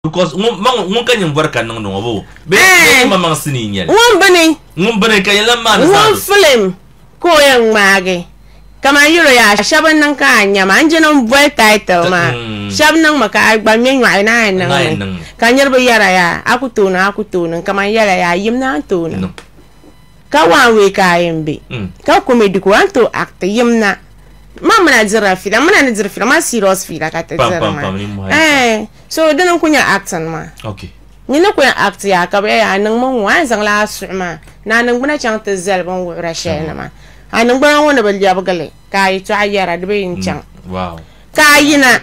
Because ŋun ka nyingori ka niŋdi ŋɔ bo bee eh! ŋun maŋ sinii n nyɛli ŋun bini ŋun bini ka yɛn maani ŋun filim ka o yɛn ŋmaagi kamani yɛlo yaa shɛb n niŋ ka a nyɛma n jini n boli title maa mm. shɛb niŋmi ka a gba ŋmɛ nyɔɣi na a niŋmi ka niriba yɛra yaa a ku tooni a ku tooni kamani yɛla yaa yim na n tooni Ka waan wee ka a yɛn be, ka comedy ka waan tooi act yim na. Man mi na dirila fiila, mi na ni diri fiila maa serious fiila ka ti diri maa. Eeh so dini n ku nyɛ acting maa. Nyin ni ku yɛn act yaa ka bi yɛli a niŋ mi ŋ-ŋɔ a ni zaŋla a suhu maa ni a niŋgbuna chaŋ ti zali bin wuhira shɛli nima. A niŋgbuna ŋɔ ni bi lɛbigi li ka a yɛtɔɣa yɛra di bee n-chaŋ. Ka a yina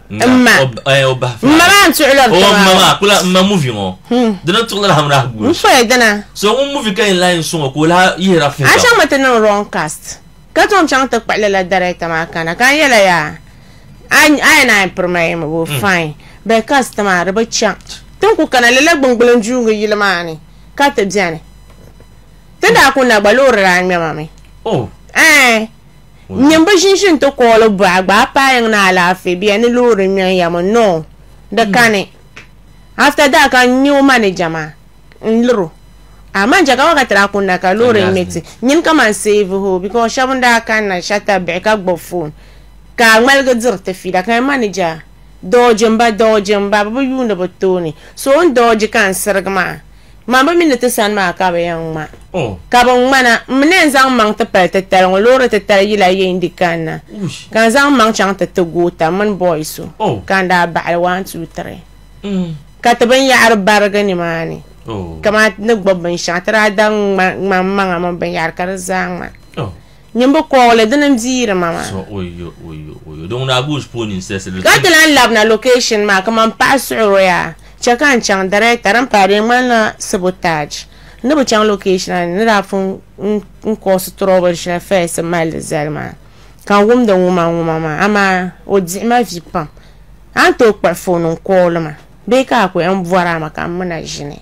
mma mma maa n tuɣula bi taba mma maa kula mma muvi ŋɔ dina tuɣula la hamra gbu n fɔya dina so ŋun muvi ka yɛn lahi n suŋɔ ka o lahi yihira fun a chaŋ mi ti niŋ wrong cast ka tom chaŋ ti kpuɣi lala director maa kana ka n yɛla yaa a yɛn a piri ma yɛmi bo fine bɛ cast maa di bi chaŋ ti n ku kana lala gbungbulin juungi yili maa ni ka ti bɛni ti daa ku na gba loori daa ŋmɛma mi oh ɛɛ Nyini bi ʒinʒi n ti kooli buɣa gbaai paayiŋ ni alaafee bia ni loori ŋmɛn ya mi no di kani. After that ka n nya o manager maa n liri o a manager ka wakati daa kuni na ka loori ŋmɛ ti nyini ka man save ho because shɛba n daa kani na shɛtabi bihi ka gbubi phone ka a ŋmaligi diri ti fiila ka nya manager dodge m ba dodge m ba bɛ bi yuuni bɛ tooni so o ni dodge ka n sirigi maa Ŋma bɛ mi ni ti sani maa ka bɛ yɛn ŋma. Ka bɛ ŋmana, m mi ni yɛn zaŋ maŋ ti pali titali ŋɔ, loori titali yila yee n-di kanna, ka n zaŋ maŋ chaŋ ti ti goota mini bɔy so ka n daa baɣili waan tuu tiri ka ti binyɛhiri barigi nimaani. Kamani ti ni gbibi binshɛɣu, ti daa da ŋma, ŋmani maŋa mini binyɛhiri ka di zaa ŋma. Nyimbu kɔɣili dini n di yiri ma maa. Ka ti lan labina location maa kaman paɣa suɣiro yaa chɛ ka n chaŋ director din pahi di ŋmanila sabotage n ni bi chaŋ location la ni ni daa pun n cause trouble shɛli first n mali di zali maa ka n wumdi ŋuma ŋuma maa amaa o diɣi ma vi pam a ni tooi kpuɣi phone n call ma bee ka a ku yɛn bɔri a ma ka m mina ʒini.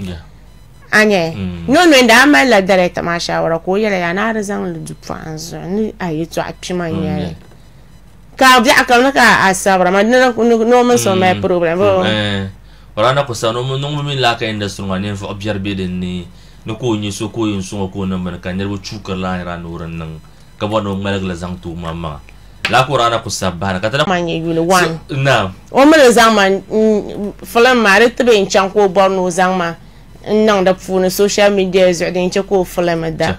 a nya mm. nyo nyo daa mali la dɛrɛta maa shawara ka o yɛla yaa naa di zaŋ li du pɔɣin zuɣu ni a yi tɔɣa kpima mm, nyɛli ka biɛɣu kam ni ka a sabira ma ni o mini so mali problem wala na ku sa niŋmi mini laaka industry ŋɔ ninvuɣu biɛri be din ni ni ka o nyɛ so ka o yɛn sɔŋ o ka o niŋ bini ka niriba chuukiri laanira ni o di niŋ ka bɔri ni o ŋmaligi li zaŋ ti omaŋmaŋa lala ka o raana ku sabi bahira ka ti daa nyɛ yuli wan naam o mi ni zaŋ ma filim maa di tibi n chaŋ ka o bɔri ni o zaŋ ma n niŋ di puuni social media zuɣu din chɛ ka o filim da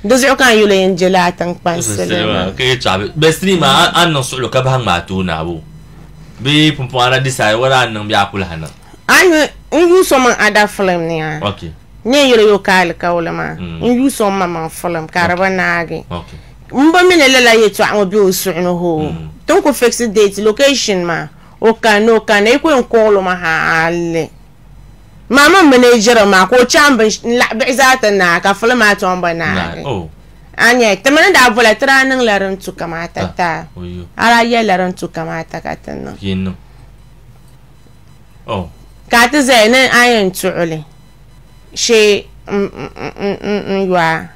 di zuɣu ka n yuli yɛn je laa tiŋkpani silima ka yɛ tɔɣa bɛ sinii maa a niŋ suɣilo ka bahi ŋmaa ti o naabo bee pumpɔŋɔ a na decide whether a niŋ bee a ku lahi niŋ A yi n yuui so maŋ ada filim ni a ni yɛn yɛli yo ka alikauli maa mm. n yuui so ma maŋ filim ka di bi naagi m bi mi ni lala yɛtɔɣa ŋɔ be o suɣu ni hoo mm. ti n ku fix date location maa o kan ni o kan na yi ku yɛn kɔɣil o ma ha alli maa min minijira maa ka o chaŋ bin laɣi bihi zaa ti naai ka filim maa tɔŋ bi naagi oh. anya ti mini daa bɔla ti daa niŋla din tu kamata ah, taa a daa yɛlila din tu kamata ka ti niŋ Oh. Ka ti zaya ni a yɛn tuɣi li shee n yɔa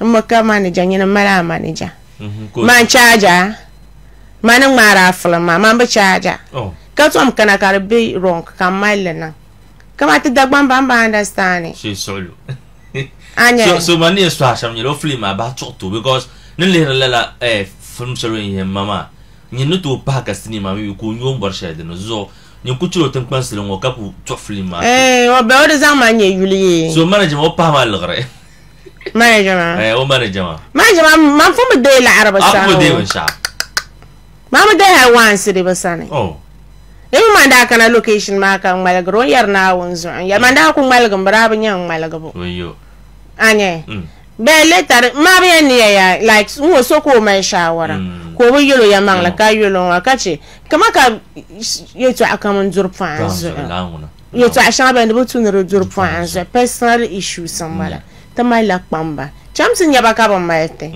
n mi ka manija nyini mali a manija mm-hmm. man chaaja ma ni ŋmaari a filim maa man bi chaaja oh. ka tom kana ka di be wrong ka m mali li niŋ kama ti Dagbaŋ ban ba understand shee suɣulu so so man ni yɛn suhi a shɛm nyɛla o filim maa bahi tuɣi tu because ni lihiri lala eh, film shɛli o yɛn yɛn ma maa Nyin ni tooi pahi ka sinii maa mi mi ka o nyo m-bɔri shɛli di ni. Zuɣu nyin ku chɛla o tiŋkpansili ŋɔ ka ku tuɣi filim maa so. Eeh o bɛ o di zaŋ ma n-nyɛ yuli yee. So manager maa o pahi ma liɣiri. Manager maa? Eeh o manager maa. Manager maa mi maa pun bi deei laɣiri bi sani o. A pun bi deei binshɛɣu. Maa mi deei hali waansi di bi sani. Oh. Di mi maa n-daa kana location maa ka ŋmaligiri o n-yɛri Naawuni zuɣu n-yɛli ma n-daa ku ŋmaligimi bi daa bi nya n ŋmaligibu. Wayyo. A nya? Mm. Bɛ le tari ŋmabiya niya ya like ŋ-ŋɔ so ka o mali shaawara ka o bi yel o yɛmaŋli ka yel o ŋɔ ka chɛ kaman ka yɛtɔɣa kam n-duri pɔɣa n zuɣu yɛtɔɣa shɛŋa bɛ ni bi tu ni di duri pɔɣa n zuɣu personal issues m-bala ti mali la kpamba chamsi nyɛba ka bɛ mali ti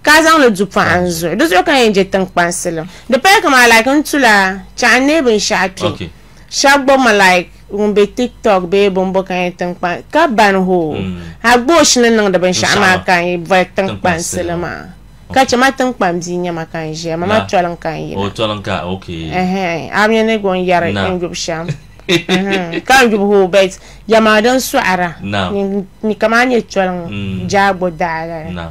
ka a zaŋ li du pɔɣa n zuɣu di zuɣu ka yɛn je tiŋkpansilim di paya kaman like n tu la chaɣu n neei binshɛɣu kpe Shɛb gba ma like ŋun be tiktok bee bɔmbo ka yi tinkpan ka ban hoo mm. a gboosh ni niŋdi binshɛɣu maa ka yi bɔri tinkpan sili maa ka chɛ ma tinkpan bia nyɛ ma ka n ʒiya ma ma tɔli n ka n yina a mini ni gɔn yɛri n yubu shɛm ka n yubu hoo bɛt yɛma din sɔɣira ni ka maa nyɛ tɔli ŋɔ mm. jaagbo daala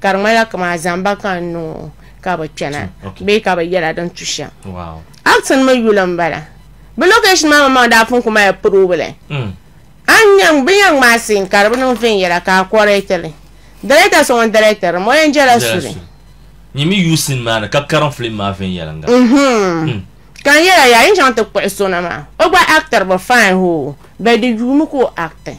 ka di ŋmanila kama a zaŋ ba ka n niŋ o ka bi kpɛna bee ka bi yɛla din tu shɛm actin mi yuli n bala bi location maa maŋmaŋ daa pun ku mali probili mm. bi yɛn ŋmaa sin ka di bi niŋ viɛnyɛla ka a kɔrɛtili dɛrɛta so ŋun dɛrɛtiri mo yɛn jɛla suli nyimi yu sin maa ni ka karim film maa viɛnyɛlinga mhm. mm. ka n yɛla yaa yi chaŋ ti kpuɣi sona maa o gba actor bi fine hoo bɛ di yuumi ka o acting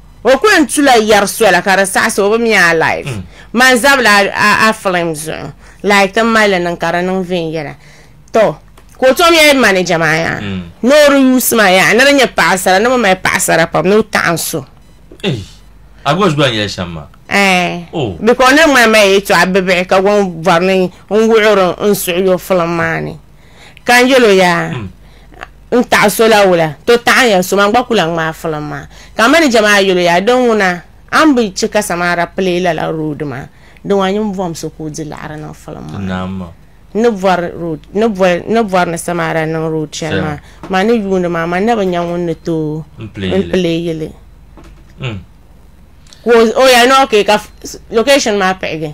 O kuli n tu la yɛri sola ka di saɣisi o bi mi a live man zabila a film zuɣu like ti mali li niŋ ka di niŋ veen yɛla to ka o tom yɛli manager maa yaa mm. ni o di yuusi maa yaa ni di nyɛ paɣasara ni bi mali paɣasara pam ni o taɣan so a gba zuba yɛli shɛm maa eh. oh. because ni ŋmani maa yɛtɔɣa bibihi ka gɔn bɔri ni n wuɣiri n suɣuyo film maa ni Ka n yɛl o yaa n taɣi so la wula, to taɣi n yɛn so maa n gba ku lahi ŋmaai filiŋ maa. Ka manija maa yɛl o yaa, Di ŋuna, a ni bi chɛ ka Samaara pili lala roodi maa, di ŋɔ a nyin bɔhim so ka o di liɣiri niŋ filiŋ maa ni. N ni bɔri ni bɔri ni Samaara niŋ roodi shɛli maa, man ni yuundi maa, man na bi nya ŋun ni tooi n pili yi li. Ka o yaa ni, Okee, ka location maa pihigi.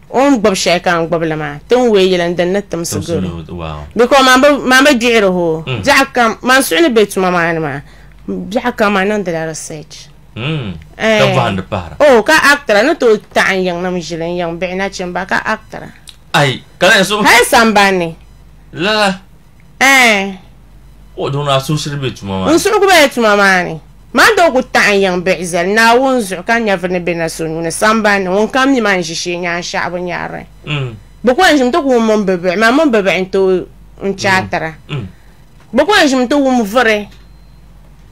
O ni gbubi shɛli ka n gbubi li maa, ti ni wee yili n din ni timsi gari o. Biko man bi, man bi gbihir o. Biɛɣu kam, man suhu ni be tuma maa ni maa, biɛɣu kam man niŋdila research. Ka bɔhindi pahira. Oh, ka actra ni tooi taɣi n yiŋnim ʒili, n yiŋ bihi nachimba, ka actra. Ayi, ka lahi suhi. Hali sambanni. Lala. Ɛɛn. Ka o duŋni a suhusiri bɛ tuma maa ni. N suhu ku be ya tuma maa ni. Man daa ku taɣi n yiŋ biɣi zali Naawuni zuɣu ka n nyɛviri ni bɛ na so nuu ni sambani ni ŋunkam mi man ʒi shee nyaansheɣu bɛ nyarili. Bɛ ku n ʒim ti wum mini bɛ biɣi, man mini bɛ biɣi nti n chɛ a tira. Bɛ ku n ʒim ti wum vuri.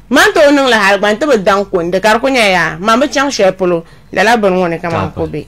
Man tooi niŋ li hal gba nti bi daŋ kundi, ka di ku nyɛ ya, man bi chaŋ shɛli polo lala bini ŋɔ ni ka man ku be.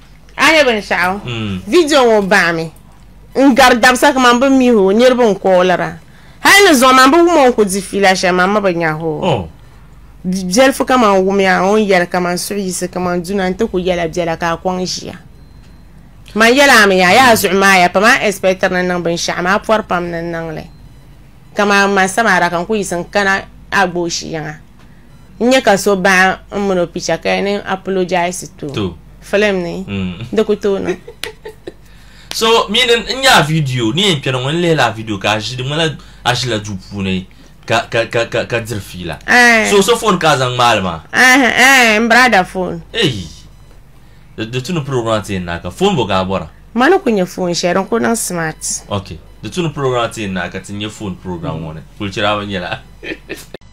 A ni nya binshɛɣu, vidio ŋɔ bahimi n gari dabisa kaman bɛ mi o niriba n-koolira. Hal ni zuɣu man bi wum o n-ku di fiila shɛli man mi bi nya o. Biɛlifu kaman wumiya o ni yɛli kaman suɣ yiɣisi kaman duna nti ku yɛla biɛla ka a kɔŋ ʒiya. Man yɛla a mi ya, yaa zuɣu maaya pam a ɛsipɛtiri ni niŋ binshɛɣu maa pɔri pam ni n niŋ li. Kaman man samaara ka n ku yiɣisi n-kana a gbooshi yiŋa. n nya ka so baɣa n mini o picha ka yɛn niŋ apologize to To. film ni Mm. di ku tooi niŋ so mi ni n nya a video ni yɛn kpɛri ŋɔ n lihila a video ka a ʒi di ŋmana a ʒila duu puuni ka ka ka ka ka diri fiila Eh. so so phone ka a zaŋ ŋmaali maa Eh, eh, n brada phone eyi di di tuni program ti yɛn naaka phone bo ka a bɔra ma ni ku nyɛ phone shɛli din ku niŋ smart ok di tuni program ti yɛn naaka ti nyɛ phone program ŋɔ ni kulichira bi nyɛla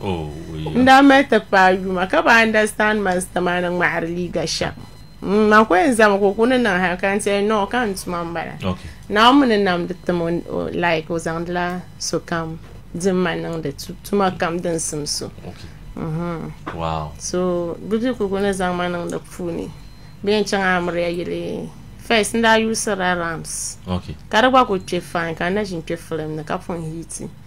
n daa mali ti paai yuma ka bi understand man sitamaana ŋmahari liiga shɛm man ko yɛn zama ka o ku ni niŋ hali ka n tiɛhi no ka n tuma n bala naawuni ni namdi tim like o zaŋdila sokam din ma niŋdi tuma kam din sim so so bibi ku ni zaŋ ma niŋdi puuni bi yɛn chaŋ amiriya yili first n daa yuusirila rams ka di gba ku kpɛ fine ka n na ʒin kpɛ film ni ka pun hiti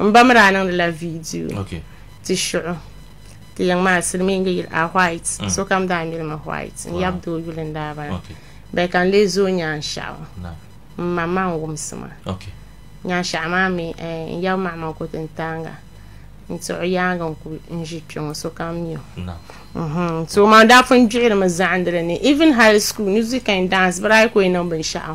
M ba mi daa niŋdila viidiyo ti shuɣu ti yiŋ maa silimiingi yili a white mm. sokam daa miri mi white n yab doo yuli n daa bala bɛ ka n lee zooi nyaanshaɣu m ma ma n wumsi ma nyaanshaɣu maa mi eh, n yab maɣima n ku ti n taaŋa n tiɣu yaangi n ku n ʒi kpɛ ŋɔ sokam mi o mhm. so maa daa pun gbihiri mi zaɣindili ni even high school music and dance bɛ daa yi ku yi niŋ binshɛɣu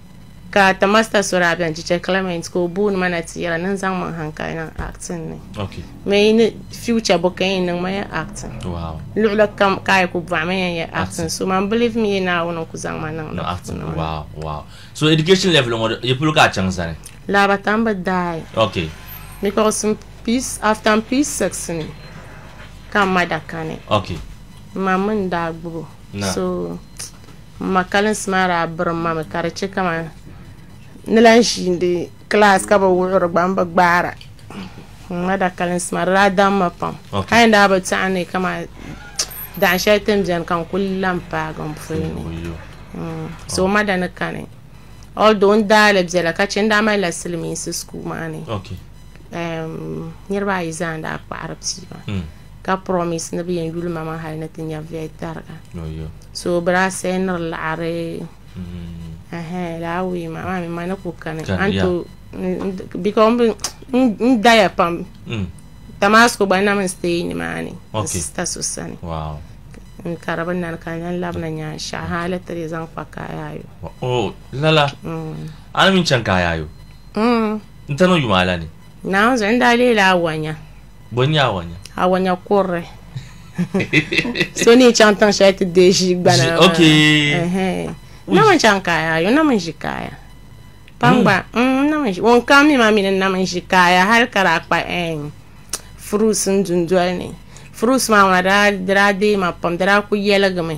Ka ta Master so daa bɛn Chicha Clement ka o booni ma na ti yɛla ni n zaŋ maŋ han ka yi niŋ acting ni. Okay. Me yi ni future bo ka yi niŋ ma ya acting. Wow. Luɣili kam ka yi ku bɔɣi ma yan ya acting so man believe me yi Naawuni n ku zaŋ ma niŋ di puuni maa. Wow wow. So education level ŋɔ yi polo ka a chaŋ zani? Laabata n bi daai. Okay. Mi ka o sim peace after n pii six ni ka n ma da kani. Okay. N ma mi n daa gbubi o. Naam. So. M ma kalinsi maa daa birim ma mi ka di chɛ kamani ni lan ʒiindi kilaasi ka bi wuhiri gba m-bi gbaara. M ma da kalinsi maa di daa daŋ ma pam. Hali n daa bi tɛɣi ni kamani daɣim shɛli ti ni beni ka n kul la m-paagi m puli ni. So m ma da ni kani although n daa li bela ka chɛ n daa mali la silimiinsi school maa ni niriba ayi zaa n-daa kpaɣiri pia maa. ka promise ni bɛ yɛn yuli ma maa hali ni ti nya viɛi tariga so bɛ daa sɛɛniri laɣiri mm-hmm. laa wee maa maa mi ma ni ku kani anto because n daya pam mm. Damasco gba nam n stay ni maa ni n sista so sani n kari bɛ nani ka n lan labina nyaa shɛɣu hali tiri zaŋ kpa kaayayo oh, lala mm. ani min chaŋ kaayayo mm. n tanu yuma la ni naanzu n daa leela awanya Bɔ n-nyɛ awanya? Awanya kurili. so ni chaŋ tiŋ shɛli ti deei ʒii gbana maa. Ok. Nam n chaŋ kaaya ayo nam n ʒi kaaya. Kpamba mm. nam n ʒi ŋun kam mi maa mi ni nam n ʒi kaaya hali ka daa kpa fruits n dundoli ni fruits maa ŋuna daa deei ma pam di daa ku yɛligimi.